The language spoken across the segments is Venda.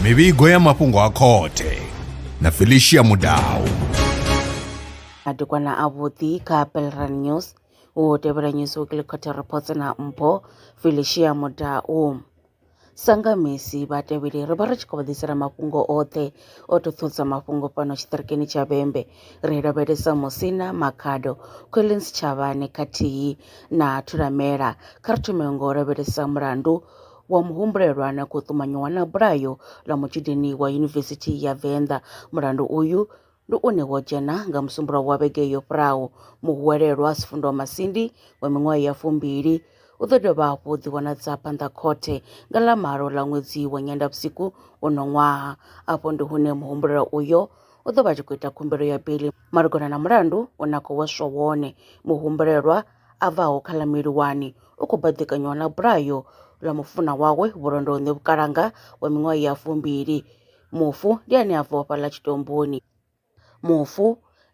mivhigo ya mafhungo a khothe na felicia mudau madekwana avhuḓi kha pelran news u tevhela news weekly khothe reports na mpho felicia mudau sanga misi vhatevheli ri vha ri tshi khou vha ḓisela mafhungo oṱhe o to thusa mafhungo fhano tshiṱirikini tsha vhembe Ri lavhelesa Musina Makhado, Collins Tshavhane khathihi na Thulamela. Kha ri thome ngo lavhelesa mulandu wa muhumbulelwa na khou ṱumanyiwa na bulayo ḽa mutshudeni wa Yunivesithi ya Venḓa. Mulandu uyu ndi une wo dzhena nga musumbuluwo wa vhege yo fhiraho. Muhuwelelwa Sifundwa Masindi wa miṅwaha ya fumbili u ḓo dovha hafhu u ḓivhonadza phanḓa khothe nga ḽa malo ḽa ṅwedzi wa Nyendavhusiku uno ṅwaha. Afho ndi hune muhumbulelwa uyo u ḓo vha a tshi khou ita khumbelo ya beiḽi malugana na mulandu u na khou hweswa wone. Muhumbulelwa a bvaho kha ḽa Mili 1 u khou baḓekanywa na bulayo ḽa mufunwa wawe vhulondoni vhukalanga wa miṅwaha ya fumbili. Mufu ndi ane a bvaho fhaḽa tshitomboni. Mufu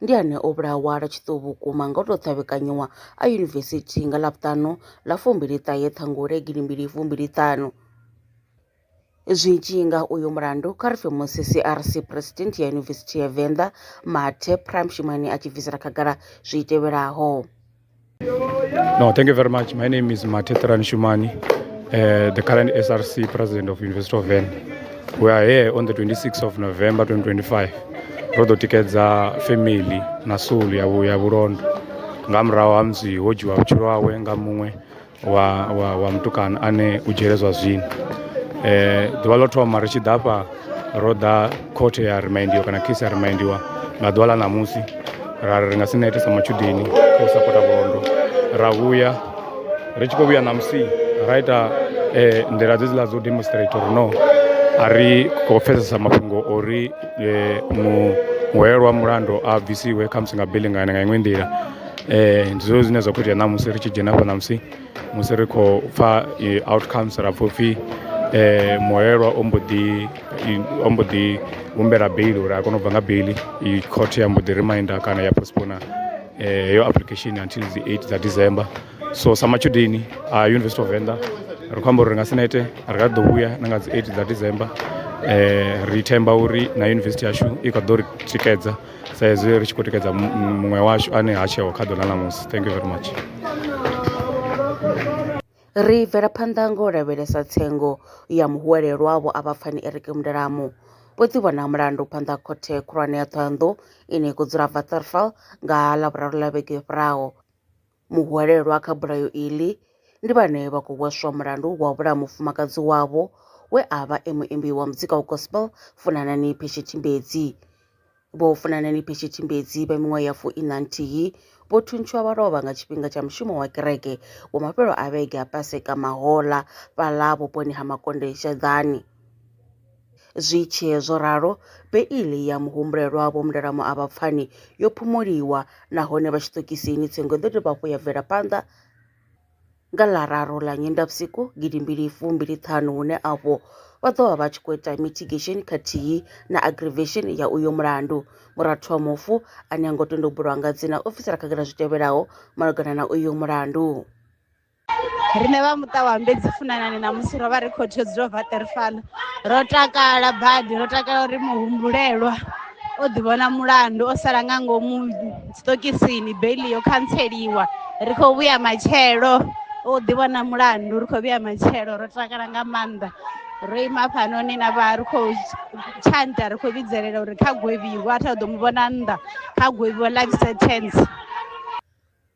ndi ane o vhulawa lwa tshiṱuhu vhukuma nga u tou ṱhavhekanyiwa a yunivesithi nga ḽa vhuṱanu ḽa fumbili ṱahe ṱhangule gidi mbili fumbili ṱhanu. Zwi tshi ya nga uyu mulandu, kha ri pfe musi CRC Phresidennde ya Yunivesithi ya Venḓa, Mathe Praimshimane a tshi bvisela khagala zwi tevhelaho. No, thank you very much. My name is Mathe Praimshimane, uh, eh, the current SRC President of University of Venḓa. We are here on the 26th of November 2025. Ro ḓo tikedza family na soul ya ya vhulondo nga murahu ha musi ho dzhiwa vhutshilo hawe nga muṅwe wa wa wa mutukana ane u dzhiele zwa zwino eh ḓuvha ḽo thoma ri tshi ḓa fha ro ḓa khothe ya remindiwa kana case ya remindiwa nga ḓuvha ḽa ṋamusi ra ri nga si nete sa matshudeni kha u sapota vhulondo ra vhuya ri tshi khou vhuya ṋamusi ra ita eh nḓila dze dziḽa dzo demonstrate uri no a ri khou pfesesa mafhungo ori eh mu muhwelwa mulandu a bvisiwe khamusi nga bili nga nga iṅwe nḓila um ndi zwezwo zwine zwa khou itea ṋamusi ri tshi dzhena hafha ṋamusi musi ri khou pfha outcomes ra pfha upfhi um muhwelelwa o mbo ḓi o mbo ḓi humbela beiḽi uri a kone u bva nga beiḽi court ya mbo ḓi reminder kana ya postpone heyo application until dzi eight dza December. So sa matshudeni a University of Venḓa ri khou amba uri ri nga si nete ri kha ḓi ḓo vhuya na nga dzi eight dza December ri themba uri na yunivesithi yashu i kha ḓo ri tikedza. sa hezwi ri tshi khou tikedza muṅwe washu ane ha tsheho kha ḓo ḽa ṋamusi thank you very much Ri bvela phanḓa nga u lavhelesa tsengo ya muhwelelwa vho a vha pfani Eric Mndelamu vho ḓivhona mulandu phanḓa khothe khulwane ya Thohoyandou ine ya khou dzula Waterval nga ha Lavhuraru ḽa vhege yo fhiraho. Muhwelelwa kha bulayo iḽi ndi vhane vha khou hweswa mulandu wa u vhulaya mufumakadzi wavho we a vha e muimbi wa muzika wa gospel Funanani Pheshe Tshimbedzi. Vho Funanani Pheshe Tshimbedzi vha miṅwaha ya fu ina nthihi vho thuntshiwa vha lovha nga tshifhinga tsha mushumo wa kereke wa mafhelo a vhege a Paseka Mahola fhaḽa vhuponi ha Makonde Sheḓani. Zwi tshee zwo ralo, beiḽi ya muhumbulelwa Vho Mndela Moavha-Pfani yo phumuliwa nahone vha tshiṱokisini tsengo i ḓo dovha hafhu ya bvela phanḓa nga ḽa raru ḽa Nyendavhusiku gidi mbili fu mbili ṱhanu hune afho vha ḓo vha vha tshi khou ita mitigation khathihi na aggravation ya uyo mulandu. Murathu wa mufu ane ha ngo tenda u bulwa nga dzina o bvisela khagala zwi tevhelaho malugana na uyo mulandu. Riṋe vha muṱa wa Mbedzi Funanani ṋamusi ro vha ri khou tea u dzula bva ṱeri fhaḽa ro takala badi ro takala uri muhumbulelwa o ḓi vhona mulandu o sala nga ngomu tsitokisini beiḽi yo khantseliwa ri khou vhuya matshelo o ḓi vhona mulandu ri khou vhuya matshelo ro takala nga maanḓa ro ima hafhanoni na vha ri khou tshanta ri khou vhidzelela uri kha gwevhiwa a tha ḓo mu vhona nnḓa kha gwevhiwa life sentence.